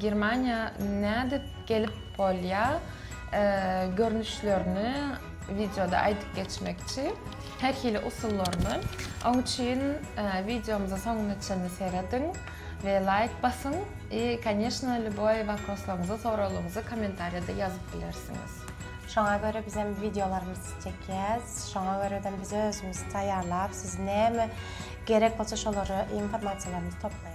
Germaniýa nädip gelip bolýa görnüşlerini wideoda aýdyp geçmekçi her hili usullaryny oň üçin wideomyza soňuna çenli serediň we laýk basyň i koneşno lýuboý waproslaryňyzy soraglaryňyzy komentariýada ýazyp bilersiňiz. Şoňa görä bizem wideolarymyzy çekýäs şoňa görä-dem biz özümiz taýýarlap siz näme gerek bolsa şolary informasiýalarymyzy toplaýas.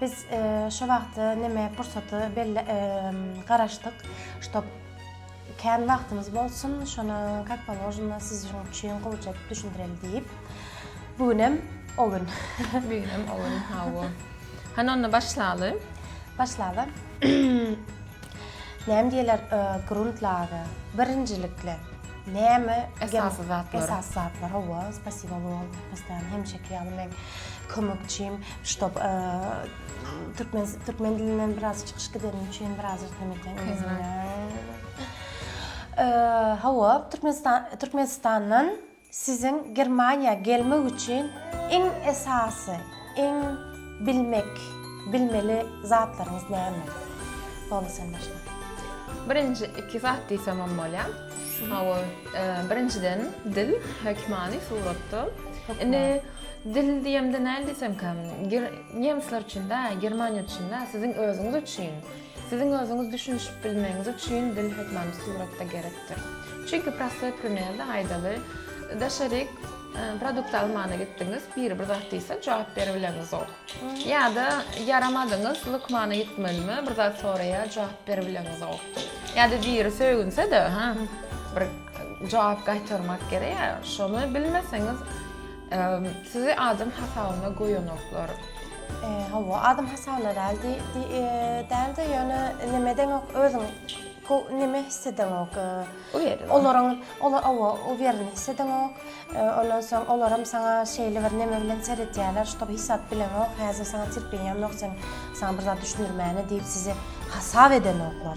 Biz şu wagty neme pursaty belle garaşdyk, ştob kän wagtymyz bolsun, şony kak položeno siziň üçin gowuca edip düşündireli diýip. Bu günem o gün. Bu günem o gün, hawa. Hany onda başlaly. Başlaly. Näme diýerler, grundlage. Birinjilikle näme esasy zatlar. Esasy zatlar, hawa, spasibo Lol, postaýan hemişeki ýaly men kömekçim. Ştob türkmen türkmen dilinden biraz çykyş gidenim üçin biraz ýerden eken Hawa, Türkmenistan Türkmenistandan siziň Germaniýa gelmek üçin iň esasy, iň bilmek, bilmeli zatlaryňyz näme? Boldy sen başla. Birinji iki zat diýsem hem bolýar. Hawa, birinjiden dil, hökmany suratda. Indi Dil diýemde näl diýsemkä, ger nemsler üçin däl, germaniýaly üçin däl, siziň özüňiz üçin. Siziň özüňiz düşünişip bilmegiňiz üçin dil hökmany suratda gerekdir. Çünki prostoý primerda aýdaly, daşaryk produkt almana gitdiňiz, biri bir zat diýse, jogap beribileňizok. Ýa-da ýaramadyňyz, lukmana gitmelimi, bir zat soraýar, jogap beribileňizok. Ýa-da biri sögünse-de, ha, bir. Jogap gaýtarmak gerek ýa şony bilmeseňiz sizi adam hasabyna goýanoklar. Hawa adam hasabyna däl dälde ýöne neme edeňok özüň neme his edeňok olaryň olar owo uwereni his edeňok ondan soň olaram saňa şeýle bir neme bilen seredýärler ştob hesap bileňok häzir saňa terpeniýem ýok sen saňa bir zat düşündirmäne diýip sizi hasap edenoklar.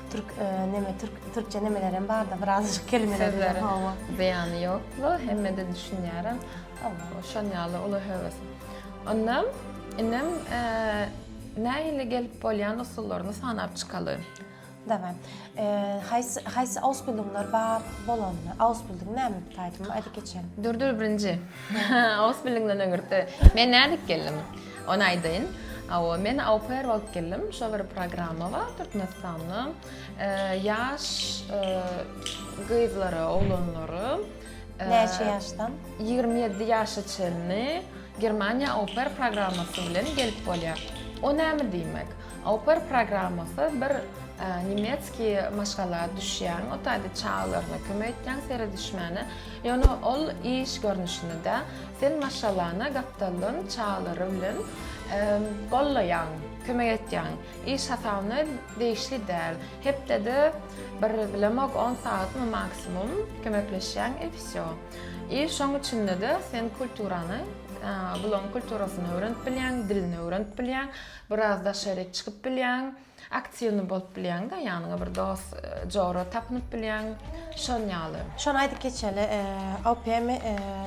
Türk neme türk türkçe nemelerem barda birazcık kelimeler bilen hawa. Beýany ýokla hemmede düşünýärem. Hawa şon ýaly uly höwes. Onda inem nähili gelip bolýan usullaryny sanap çykaly. Daway. Haýsy haýsy ausbildunglar bar bolanda? Ausbildung näme aýdyp geçeli. Dur dur birinji. Ausbildungdan öňürti. Men nädip geldim? Ony aýdaýyn. Hawa, men aupair bolup geldim. Şo bir programma bar Türkmenistanda. Ýaş gyzlara, oglanlara. Näçe ýaşdan? Ýigrimi ýedi ýaşa çenli Germaniýa aupair programmasy bilen gelip bolýar. O näme diýmek? Aupair programmasy bir nemetski maşgala düşýäň, o taýda çagalaryna kömek etýäň, seredişmäne. Ýöne ol iş görnüşini-de sen maşgalany gapdaldan çaglary bilen gollaýaň, kömek etýäň. Iş hasabyna degişli däl. Hepdede bir, bilemok, on sagatmy maksimum kömekleşýäň i wsýo. I şoň içinde-de sen kulturany, bularyň kulturasyny öwrenip bilýäň, dilini öwrenip bilýäň, biraz daşaryk çykyp bilýäň. Aktiwny bolup bilýäňda ýanyňa bir dost jora tapynyp bilýäň şon ýaly. Şony aýdyp geçeli OPM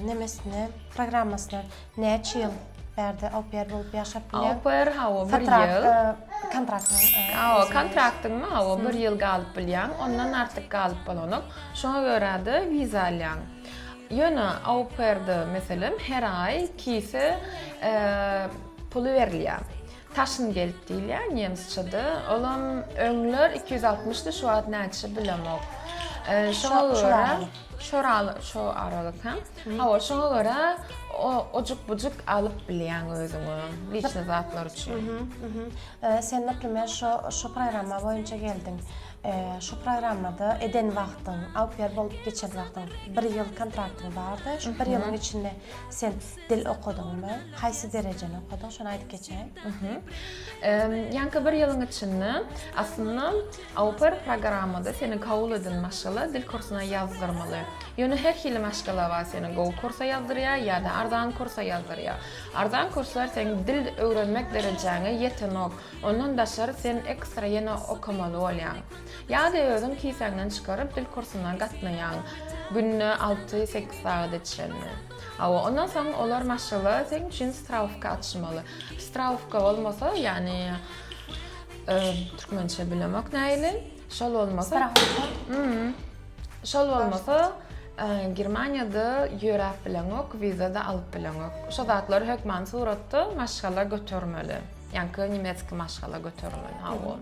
nemesine programmasyna näçe ýyl bärde OPR bolup ýaşap bilýäň? OPR hawa bir ýyl. Kontraktyň. Hawa kontraktyňmy hawa bir ýyl galyp bilýäň ondan artyk galyp bolanok şoňa görä-de wiza alýaň. Ýöne OPR-de meselem her aý kise puly berilýär. Taşngeld diýilýär nemsçede. Olam öňler iki ýüz altmyşdy, şu wagt näçe bilemok. Şoňa görä şo şo aralyk hem. Hawa, şoňa görä ojuk-bujuk alyp bilýäň özüňe liçni zatlar üçin. Sen, näteme, şo şu programma boýunça geldiň. Şu programmada eden wagtyň, au pair bolup geçen wagtyň bir ýyl kontraktyň bardy. Şu bir ýylyň içinde sen dil okadyňmy? Haýsy derejeni okadyň? Şony aýdyp geçäýiň. Ýaňky bir ýylyň içinde aslynda AUPER programmada seni kabul eden maşgala dil kursuna ýazdyrmaly. Ýöne her hili maşgala bar, seni gowy kursa ýazdyrýar ýa-da arzan kursa ýazdyrýar. Arzan kurslar seň dil öwrenmek derejäňe ýetenok, ondan daşary sen ekstra ýene okamaly bolýaň. Ýa-da özüň kisäňden çykaryp dil kursuna gatnaýaň, günde alty, sekiz sagada çenli. Hawa, ondan soň olar maşgala seň üçin strawka açmaly. Strawka bolmasa, ýagny türkmençe bilemok näili. Şol bolmasa, strawka. Hmm. Şol bolmasa, Germaniýada ýöräp bileňok, wiza-da alyp bileňok. Şo zatlar hökman suratda maşgala götermeli. Ýa-da nemeski maşgala götermeli. Hawa.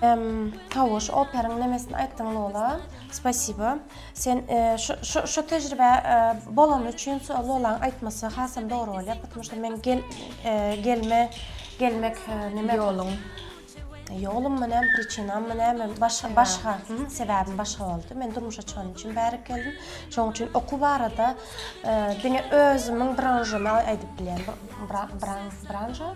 Em Tawuş operyň nemesini aýtdyň Lola? Spasibo. Sen şu şu tejribä bolany üçin Lolaň aýtmasy hasam dogry bolýar, putmuşda meň gel gelme gelmek neme ýolum ýolum mu näme priçinam mu näme başga başga sebäbim başga boldy. Men durmuşa çykan üçin bärik geldim. Şoň üçin okuw barada diňe özümiň branžymy aýdyp bilýän. Bran bran branža.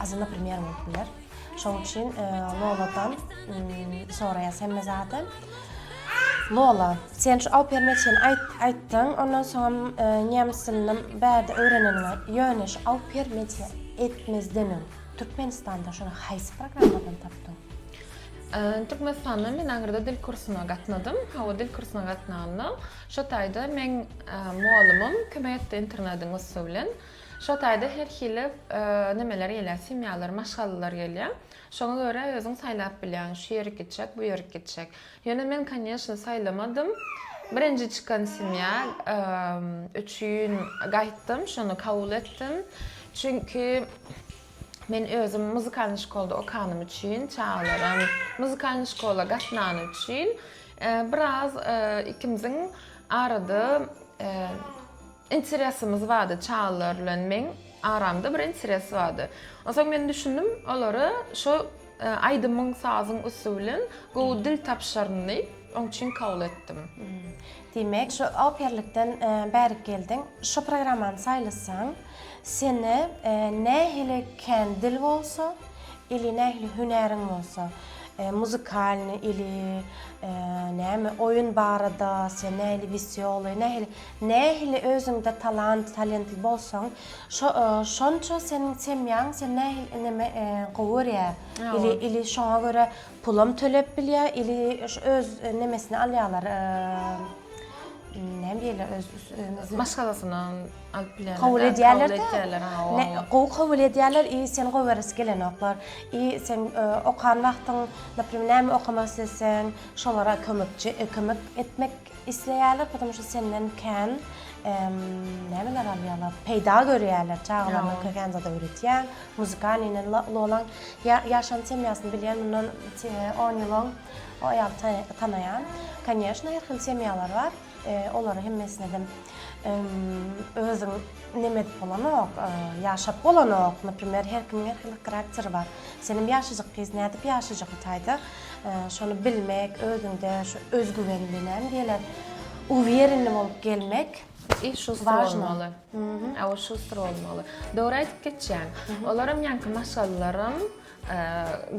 Aslynda premýer bolup biler. Şoň üçin e, Loladan soraýas hemme zady. Lola, sen şu Alperme çen aýt aýtdyň, ondan soň e, nemes dilini bärde öwreneniňe, ýöne şu Alper media etmezden öň Türkmenistanda şuny haýsy programmadan tapdyň? E, Türkmenistanda men aňyrda dil kursuna gatnadym. Hawa, dil kursuna gatnanda, şo taýda meň e, mugallymym kömek etdi internetyň üsti bilen. Şo taýda her hili nimeler gelýär, semýalar, maşgalalar gelýär. Şoňa görä özüň saýlap bilýäň, şu ýerik gitjek, bu ýerik gitjek. Ýöne men, konýeçno, saýlamadym. Birinji çykan semýa üçin gaýtdym, şony kabul etdim. Çünki men özüm muzykalnyý şkolda okanym üçin, çagalaram muzykalnyý şkola gatnany üçin biraz ikimiziň arada Interesimiz bardy çagalar bilen meň aramda bir interes bardy. Onsoň men düşündim olara şo aýdymyň sazyň üsti bilen gowy dil tapyşaryn diýip oň üçin kabul etdim. Diýmek şo operlikden bärik geldiň. Şo programmany saýlasaň seni nähili kän dil bolsa ili nähili hünäriň bolsa muzykalny ili näme oýun barada sen nähili wesýoly nähili Nähili özüňde talant, talentli bolsaň, şo şonça seniň semýaň sen nähili ineme gowy görýä. Ili ili şoňa görä pulam töläp bilýä, ili şu öz nemesini alýalar. Näme diýýäler öz özüne? Maşgalasyna alyp bilýärler. Kabul edýärler. Gowy kabul edýärler, i sen gowy göresi gelenoklar. I sen okan wagtyň, naprimýr, näme okamak isleseň, şolara kömekçi, kömek etmek Isleýärler pytym şu senden kän nämeler alýarlar peýda görýärler çagalaryna kän zat öwretýäň muzykany inen lolaň ýaşan semýasyny bilýän mundan on ýyl oň o aýaly tanaýan konýeşna her hil semýalar bar olary hemmesinem özüň neme edip bolanok ýaşap bolanok naprimer her kimiň her hili krakteri bar senem ýaşajyk gyz nädip ýaşajak itaýda şony bilmek özüňde şu özgüwen bilen gelen uwýerenli bolup gelmek I şustr bolmaly. A o şustr bolmaly. Dogry aýdyp geçýäň. Olaram ýaňky maşgalalaram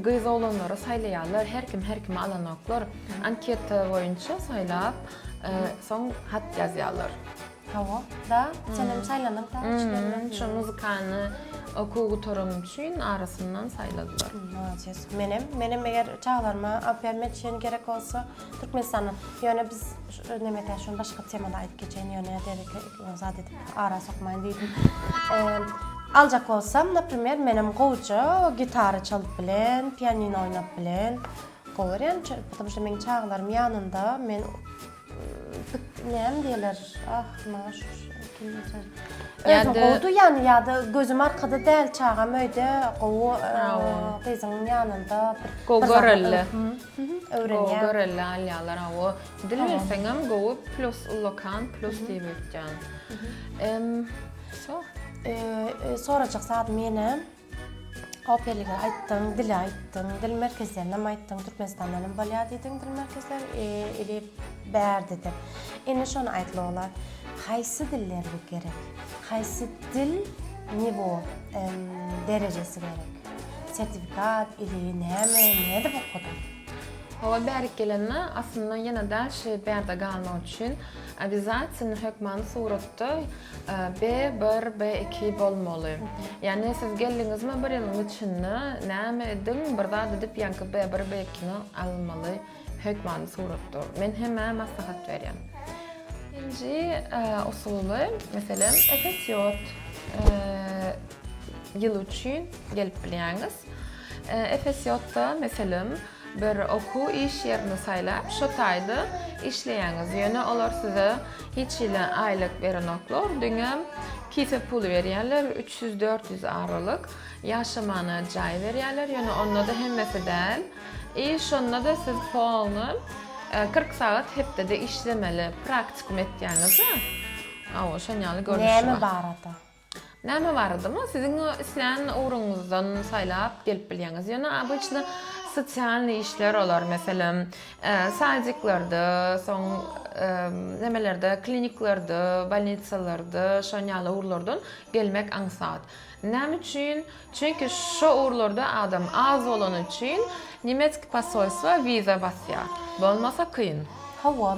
gyz oglanlary saýlaýarlar, her kim her kimi alanoklar. Anketa boýunça saýlap, soň hat ýazýarlar. Hawa, da, senem saýlanyňda üçlerden. Şu muzykany okuw gutaram üçin arasyndan saýladylar. Molades. Menem, menem eger çagalaryma Alpyýarmet şen gerek bolsa, Türkmenistana, ýöne biz nemekä şony başga temada aýdyp geçeýin, ýöne dereke zat edip ara sokmaýyn diýdim. Aljak bolsam, naprimer, menem gowja gitara çalyp bilen, pianino oýnap bilen. Gowy ýöne, çünki meniň çagalarym ýanynda, men Näme diýerler? Ah, maňa şu Özüň gowudy ýany ýa-da gözüm arkada däl çagam öýde gowy gyzyň ýanynda bir gowy görelle. Öwrenýär. Gowy görelle alýarlar hawa. Dil bilseňem gowy plus ullakan plus diýip öýtýän. Em, so. Sorajak zadym ýene. Opeliňe aýtdyň, dile aýtdyň, dil merkezlerinem aýtdyň, Türkmenistandanam bolýar diýdiň dil merkezler, ili bär diýdiň. Indi şony aýt Lola, haýsy diller bu gerek? Haýsy dil niwo, derejesi gerek? Sertifikat ili näme, nädip okadyň? Hawa bärik gelende aslynda ýene-de şi bärde galmak üçin obýazatynly hökmany suratda B bir B iki bolmaly. Yani siz geldiňizmi bir ýylyň içinde näme ediň bir zat edip ýaňky B bir B ikini almaly hökmany suratda. Men hemä maslahat berýän. Birinji usuly meselem epesiýot ýyl üçin gelip bilýäňiz. Epesiýotda meselem Bir okuw iş ýerini saýlap, şo taýda işleýäňiz. Ýöne olar size hiç hili aýlyk berenoklar, diňe kise puly berýärler, üç ýüz, dört ýüz aralyk. Ýaşamana jaý berýärler, ýöne onda-da hemmesi däl. I şonda-da siz polny kyrk sagat hepdede işlemeli, praktikum etýäňiz-ä. Awa, şon ýaly görnüşi bar. Näme barada? Näme baradamy? Siziň islän ugruňyzdan saýlap gelip bilýäňiz. Ýöne obyçny sosialnyý işler olar, meselem, sadiklerde, soň nemelerde, kliniklerde, bolnitsalerde, şon ýaly ugurlardan gelmek aňsat. Näme üçin? Çünki şo ugurlarda adam az bolany üçin nemetski posolstwa wiza basýar. Bolmasa kyn. Hawa,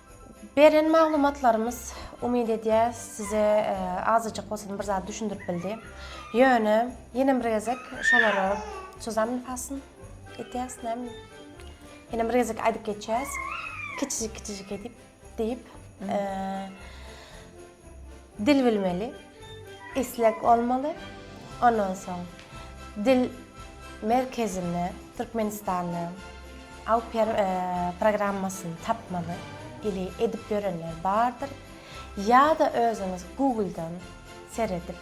Beren maglumatlarymyz umyt edýäs size azajyk bolsam bir zat düşündirip bildi. Ýöne ýene bir gezek şolara çozan nifasyn edýäs näme. Ýene bir gezek aýdyp geçýäs. Kiçijik kiçijik edip diýip. Dil bilmeli, isleg bolmaly, ondan soň dil merkezinde Türkmenistanda Awper programmasyny tapmaly ili edip ýörenler bardyr ýa-da özüňiz Google-dan seredip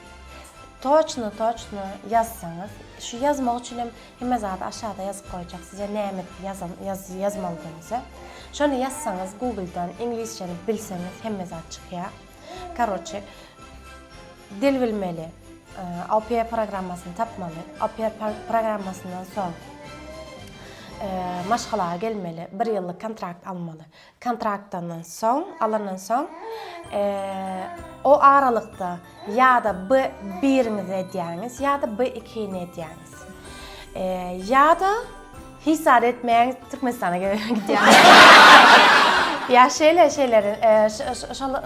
toçno-toçno ýazsaňyz, şu ýazmak üçinem Hemme zady aşada ýazyp goýjak size näme ýazan ýazmalydygyňyzy. Şony ýazsaňyz Google-dan iňlisçeni bilseňiz hemme zat çykýar. Karoçe dil bilmeli. Oper programmasyny tapmaly. Oper programmasyndan soň maşgala gelmeli. Bir ýyllyk kontrakt almaly. Kontraktyndan soň, alandan soň, o aralykda ýa-da B-birimizi edýäňiz, ýa-da B-ikini edýäňiz. Ýa-da hiç zat etmäň, Türkmenistana gelip gidýäňiz. Ýa şeýle şeyleri,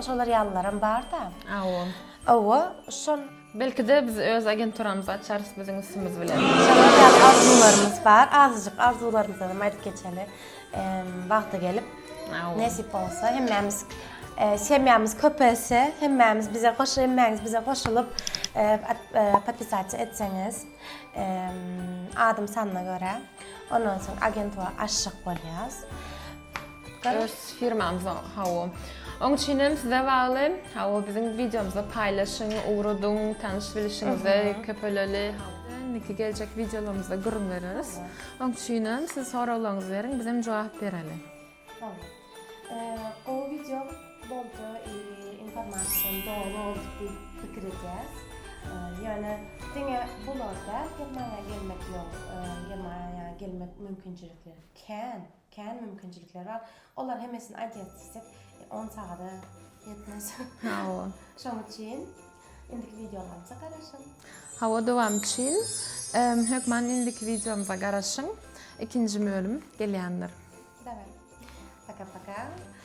şolar ýalylaram bar-da. Awo. Awo, şol. Belki-de biz öz agenturamyzy açarys biziň üstümiz bilen. Şolar ýaly arzuwlarymyz bar. Azyjyk arzuwlarymyzdan hem aýdyp geçeli. Wagty gelip, nesip bolsa, hemmämiz semýamyz köpelse, hemmämiz bize goş, hemmäňiz bize goşulyp, podpisasiýa etseňiz, adam sanyna görä, ondan soň agentura açjak bolýas. Öz firmamyzyň hawa. Oň üçin hem size bagly. Hawa biziň wideomyzy paýlaşyň, ugradyň, tanyş bilişiňizi köpeleli. Indiki geljek wideolarymyzda gürrüň bereris. Oň üçin hem siz soraglaryňyzy beriň, biz hem jogap bereli. Tamam. Gowy wideo boldy, informasiýadan doly boldy diýip pikir edýäs. Ýöne diňe bular däl, Germaniýa gelmek ýok, Germaniýa gelmek mümkinçilikleri kän. Kän mümkinçilikler bar. Olar hemmesini aýdaýan diýsek, 10 sagada ýetmez. Hawa. Şonuň üçin indiki wideolarymyza garaşyň. Hawa, dowam üçin hökman indiki wideomyza garaşyň. Ikinji bölüm gelýändir. Daway. Paka-paka.